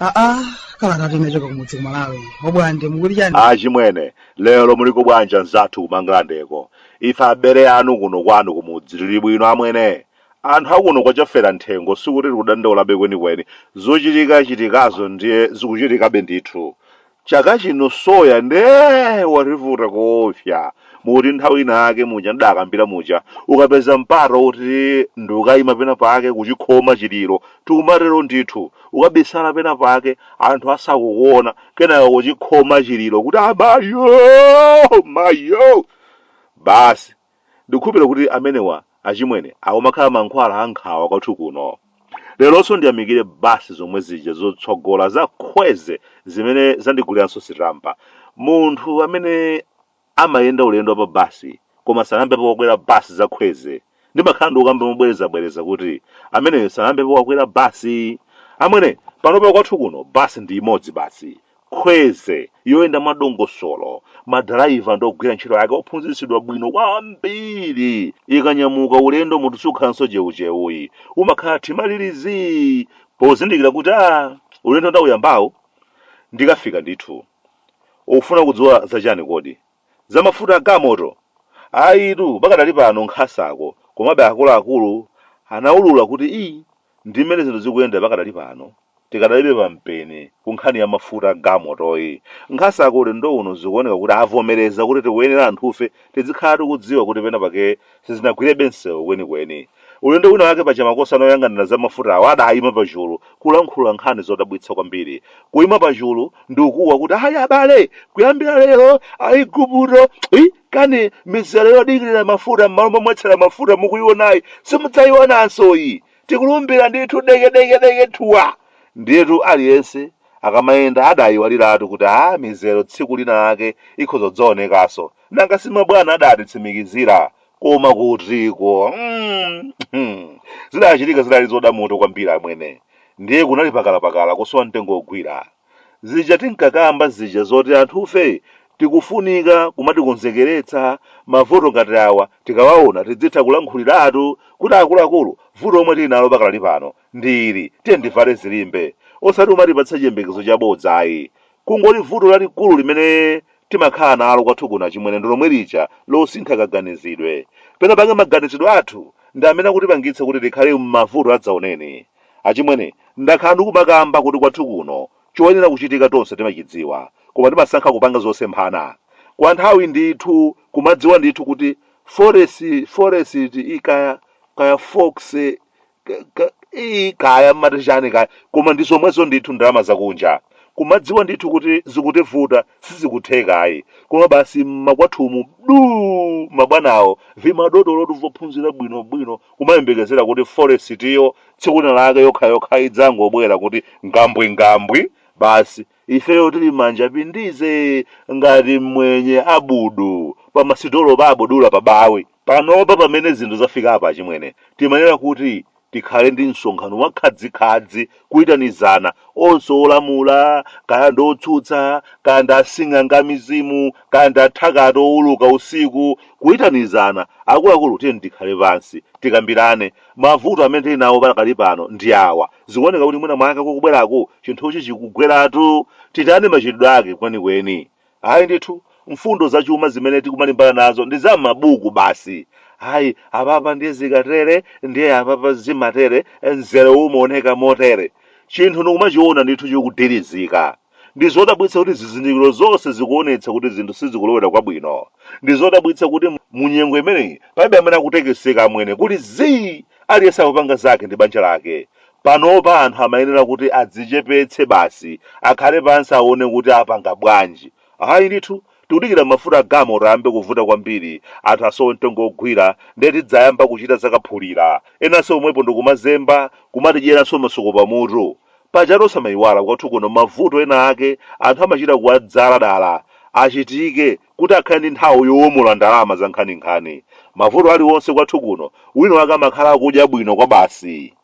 aa kalanga tinachoka kumudzi kumalawi obwande mukuti chani achimwene lero muliko bwanja nzathu Kumangalandeko ife abale anu kuno kwanu kumudzi tili bwino amwene Anthu akuno kwa Chaferamthengo sikuti tikudandaulabe kwenikweni, zochitikachitikazo ndiye zikuchitikabe ndithu. Chaka chino soya nde wativuta koopsa, mukuti nthawi inayake muja ndidakambira muja, ukapeza mpata woti ndi kukaima penapake kuchikhoma chiliro, tikumatero ndithu, ukabisala penapake anthu asakukuona, kenaka kuchikhoma chiliro kuti amayo! Mayo! Basi. Ndikukhulupirira kuti amenewa, achimwene, awo amakhala mankhwala a nkhawa kwathu kuno. Leronso ndiyamikire basi zomwe zija zotsogola za Kwezy zimene zandiguliranso sitampa. Munthu amene amayenda ulendo wa pa basi koma sanayambepo wakwera basi za Kwezy, ndimakhala ndikukamba mobwerezabwereza kuti, Ameneyo sanayambepo wakwera basi. Amwene, panopa kwathu kuno basi ndi imodzi basi, Kwezy yoyenda mwadongosolo, madaraiva ndi ogwira ntchito ake ophunzitsidwa bwino kwambiri ikanyamuka ulendo munthu sukhalanso cheucheuyi, umakhala tima liri zii pozindikira kuti aah ulendo ndauyambawu ndikafika ndithu. Ukufuna kudziwa za chani kodi? Za mafuta a gamoto? Ayitu pakadali pano nkhasako, komabe akuluakulu anaulula kuti iih Ndi mmene zinthu zikuyendera pakadali pano, tikadalibe pa mpeni ku nkhani ya mafuta a galimotoyi. Nkhasako ulendo uno zikuoneka kuti avomereza kuti tikuyenera anthufe tidzikhala tikudziwa kuti pena pake sizinagwirebe msewu kwenikweni. Ulendo wina wake paja makosana oyang'anira za mafutawo adayima pachulu kulankhula nkhani zodabwitsa kwambiri. Kuyima pachulu ndi kukuwa kuti ayi abale! Kuyambira lero Aigupto! Hi! kani mizere yodikirira mafuta m'malo momwetsera mafuta mukuionayi simudzaionanso iyi tikulumbira ndithu dekedekedeke thuwa ndiyetu aliyense akamayenda adayiwaliratu kuti a mizero tsiku lina lake ikhoza kudzaonekanso nanga simabwana adatitsimikizira koma kutiko mm, mm. zidachitika zidali zoda mutu kwambiri amwene ndiye kunali pakalapakala kusowa mtengo wogwira Zija tinkakamba zija zoti anthufe tikufunika kumatikonzekeretsa mavuto ngati awa tikawaona tidzitha kulankhuliratu kuti akuluakulu vuto lomwe tili nalo pakadali pano ndi ili tiyeni tivale zilimbe osati kumatipatsa chiyembekezo chabodza ayi. Kungoti vuto lalikulu limene timakhala nalo kwathu kuno achimwene ndi lomwe lija losasintha kaganizidwe. Penapake maganizidwe athu ndi amene akutipangitsa kuti tikhale m'mavuto adzaoneni. Achimwene, ndakhala ndikumakamba kuti kwathu kuno choyenera kuchitika tonse timachidziwa koma timasankha kupanga zosemphana. Kwa nthawi ndithu kumadziwa ndithu kuti forest forest i kaya kaya fox ka, ka, i kaya mmati chani kaya koma ndizomwezo ndithu ndalama zakunja kumadziwa ndithu kuti zikutivuta sizikutheka ayi koma basi mmakwathumu duu mabwanawo vimadotolotu vophunzira bwino bwino kumayembekezera kuti foresitiyo tsiku lina lake yokha yokha idzangobwera kuti ngambwi ngambwi basi ifeyo tili manja pindize ngati mmwenye abudu pa masitolo pa abudula pa bawi panopa pamene zinthu zafika apa achimwene timayenera kuti tikhale ndi msonkhano wakhadzikhadzi kuitanizana onse olamula kaya ndi otsutsa kaya ndi asing'anga mizimu kaya ndi athakati owuluka usiku kuitanizana akuluakulu tiyeni tikhale pansi tikambirane mavuto amene tili nawo pakali pano ndi awa zikuoneka kuti mwina mwake kukubweraku chinthuchi chikugweratu titani machitidwe ake kwenikweni Ayi ndithu, mfundo zachuma zimene tikumalimbana nazo ndi za m'mabuku basi. Ayi, apapa ndiye zikatere, ndiye apapa zimatere, mzerawu umaoneka motere. Chinthu ndikumachiona ndithu chikudirizika. Ndi zodabwitsa kuti zizindikiro zonse zikuonetsa kuti zinthu sizikulowera kwabwino. Ndi zodabwitsa kuti mu nyengo imeneyi palibe amene akutekeseka amwene, kuli zii! Aliyense akupanga zake ndi banja lake. Panopa anthu amayenera kuti adzichepetse basi, akhale pansi aone kuti apanga bwanji. Ayi ndithu, tikudikira mafuta a galimoto ayambe kuvuta kwambiri, anthu asowe mtengo wogwira, ndiye tidzayamba kuchita za kaphulira, enanso pomwepo ndikumazemba, kumatidyeranso masuku pamutu. Pajatu osamaiwala kwathu kuno mavuto ena ake anthu amachita kuwadzala dala achitike kuti akhale ndi nthawi yowomola ndalama zankhaninkhani. Mavuto aliwonse kwathu kuno wina wake amakhala akudya bwino kwabasi.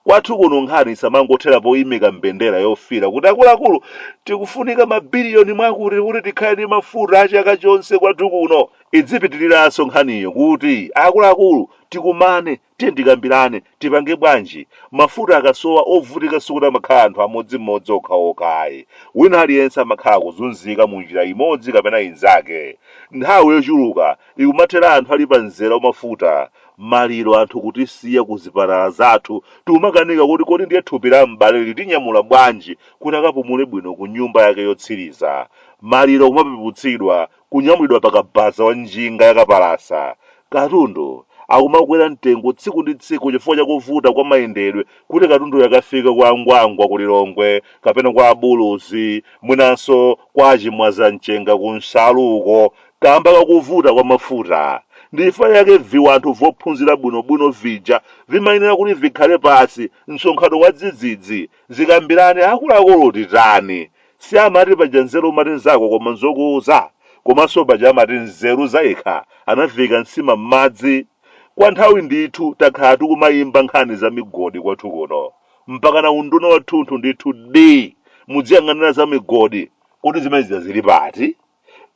Kwathu kuno nkhani isamangothera poimika mbendera yofiira kuti akuluakulu tikufunika mabiliyoni mwakuti kuti tikhale ndi mafuta a chaka chonse kwathu kuno. Idzipitiriranso nkhaniyo kuti, akuluakulu, tikumane, tiye tikambirane, tipange bwanji? Mafuta akasowa, ovutika sikuti amakhala anthu amodzimodzi okhaokha ayi. Wina aliyense amakhala akuzunzika mu njira imodzi kapena inzake. Nthawi yochuluka ikumathera anthu ali pa mzera wa mafuta. maliro anthu kutisiya ku zipatala zathu tikumakanika kuti kodi ndiye thupi la m'bale litinyamula bwanji kuti akapumule bwino ku nyumba yake yotsiriza maliro kumapeputsidwa kunyamulidwa pa kabaza wa njinga yakapalasa katundu akumakwera mtengo tsiku ndi tsiku chifukwa cha kuvuta kwa mayendedwe kuti katunduyo akafike kwa angwangwa ku lilongwe kapena kwa abuluzi mwinanso kwa achimwaza mchenga ku nsalu uko Kamba ka kuvuta kwa mafuta. Ndi chifukwa chake viwanthu vophunzira bwino bwino vija vimayenera kuti vikhale pansi msonkhano wadzidzidzi, zikambirane akuluakulu titani. Si amati paja nzeru umati nzako koma nzokuuza? Komanso paja amati nzeru zayekha anaviika nsima m'madzi? Kwa nthawi ndithu takhala tikumayimba nkhani za migodi kwathu kuno. Mpakana unduna wathunthu ndithu dii! Mudziyang'anira za migodi. Kodi zimene zija zili pati?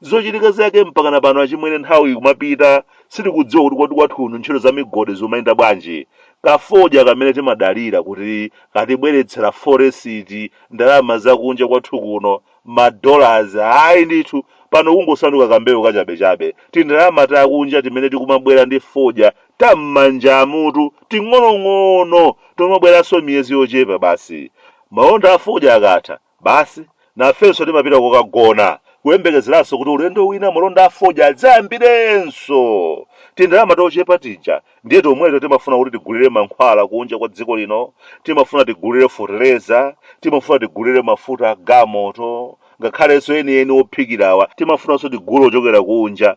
zochitika zake mpakana pano achimwene nthawi ikumapita sitikudziwa kuti kodi kwathu kuno ntchito za migodi zimayenda bwanji kafodya kamene timadalira kuti katibweretsera forex ndalama zakunja kwathu kuno madollars ayi ndithu pano kungosanduka kambewu kachabechabe tindalama takunja timene tikumabwera ndi fodya tam'manja mutu ting'onong'ono tomabweranso miyezi yochepa basi malonda afodya akatha Basi, nafenso timapita kukagona, kuyembekezeranso kuti ulendo wina malonda a fodya adzayambirenso! Tindalama tochepa tija ndiye tomweto timafuna kuti tigulire mankhwala kunja kwa dziko lino, timafuna tigulire fotereza, timafuna tigulire mafuta a galimoto, ngakhalenso enieni ophikirawa timafunanso tigule ochokera kunja.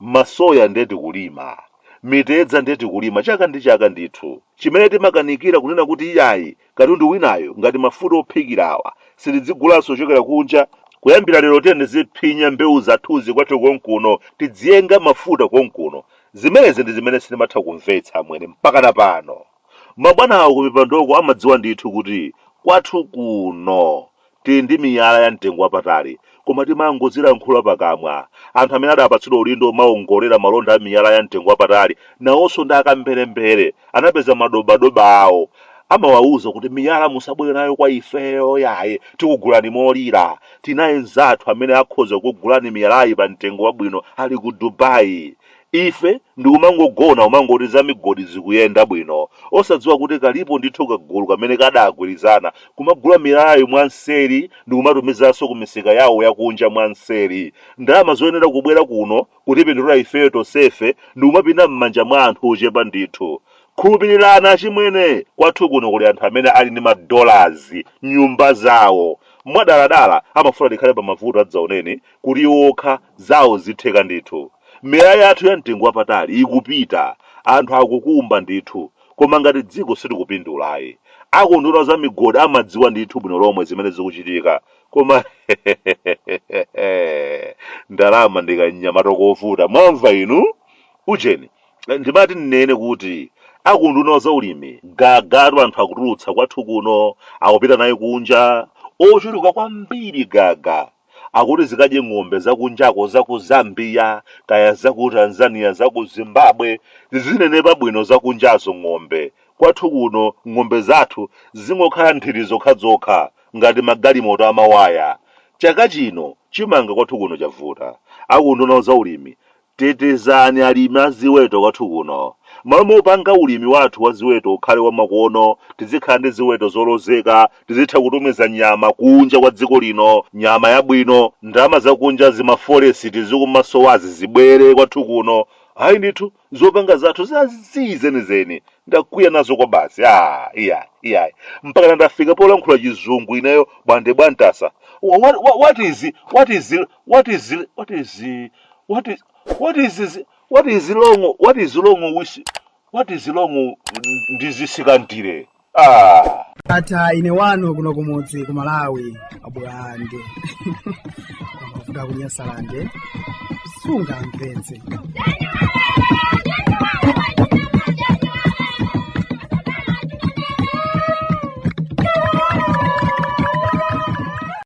Masoya nde tikulima, mitedza nde tikulima chaka ndi chaka ndithu. Chimene timakanikira kunena kuti iyayi katundu winayu ngati mafuta ophikirawa sitidzigulanso kuchokera kunja, kuyambira lero tiyeni tiziphinya mbewu zathuzi kwathu konkuno, tidziyenga mafuta konkuno. Zimenezi ndi zimene sindimatha kumvetsa amwene mpakana pano. Mabwana awo kumipandoko amadziwa ndithu kuti kwathu kuno tili ndi miyala ya mtengo wapatali koma timangodzilankhula pakamwa. Anthu amene adapatsidwa udindo omaongolera malonda a miyala ya mtengo wapatali nawonso ndi akamberembere, anapeza madobadoba awo. Amawauza kuti miyala musabwere nayo kwa ifeyo yaye, tikugulani molira. Tinaye mnzathu amene akhoza kukugulani miyalayi pa mtengo wabwino ali ku Dubai. Ife ndikumangogona umangoti za migodi zikuyenda bwino osadziwa kuti kalipo ndithu kagulu kamene kadagwirizana kumagula miyalayi mwa nseri ndikumatumizanso ku misika yawo ya kunja mwa nseri ndalama zoyenera kubwera kuno kutipindulira ifeyo tonsefe ndikumapita mmanja mwa anthu ochepa ndithu. Khulupilirani achimwene kwathu kuno kuli anthu amene ali ndi ma dollars m'nyumba zawo. Mwadaladala amafuna tikhale pa mavuto adzaoneni kuti iwo okha zawo zitheka ndithu. Miyala yathu ya mtengo wapatali ikupita, anthu akukumba ndithu, koma ngati dziko sitikupindula ayi. A ku unduna wa za migodi amadziwa ndithu bwino lomwe zimene zikuchitika, koma hehehehehe ndalama ndi kamnyamata kovuta, mwamva inu? Ujeni, ndimati ndinene kuti a ku unduna wa zaulimi gagatu anthu akutulutsa kwathu kuno akupita naye kunja, ochuluka kwambiri gaga. akuti zikadye ng'ombe zakunjako zaku Zambia kaya zaku Tanzania zaku Zimbabwe zizinenepa bwino zakunjazo ng'ombe kwathu kuno ng'ombe zathu zingokhala nthiti zokhazokha ngati magalimoto amawaya chaka chino chimanga kwathu kuno chavuta aku unduna wa zaulimi Tetezani alimi a ziweto kwathu kuno. M'malo mopanga ulimi wathu wa ziweto ukhale wa makono, tizikhala ndi ziweto zolozeka, tizitha kutumiza nyama kunja kwa dziko lino, nyama yabwino, ndalama zakunja zimafolekisi zikumasowazi zibwere kwathu kuno. Ayi ndithu, zopanga zathu za zii zenizeni. Ndakwiya nazo kwabasi. Aaa, iyayi, iyayi. Mpakana ndafika polankhula chizungu ineyo bwande bwantasa. Wha- What, what, what is, what is, what is, what is, what is what is this, what is long what is long with what is long ndi zisikantire ah ndatha ine wanu kuno kumudzi ku malawi abwande kuda kunyasalande sungamvetse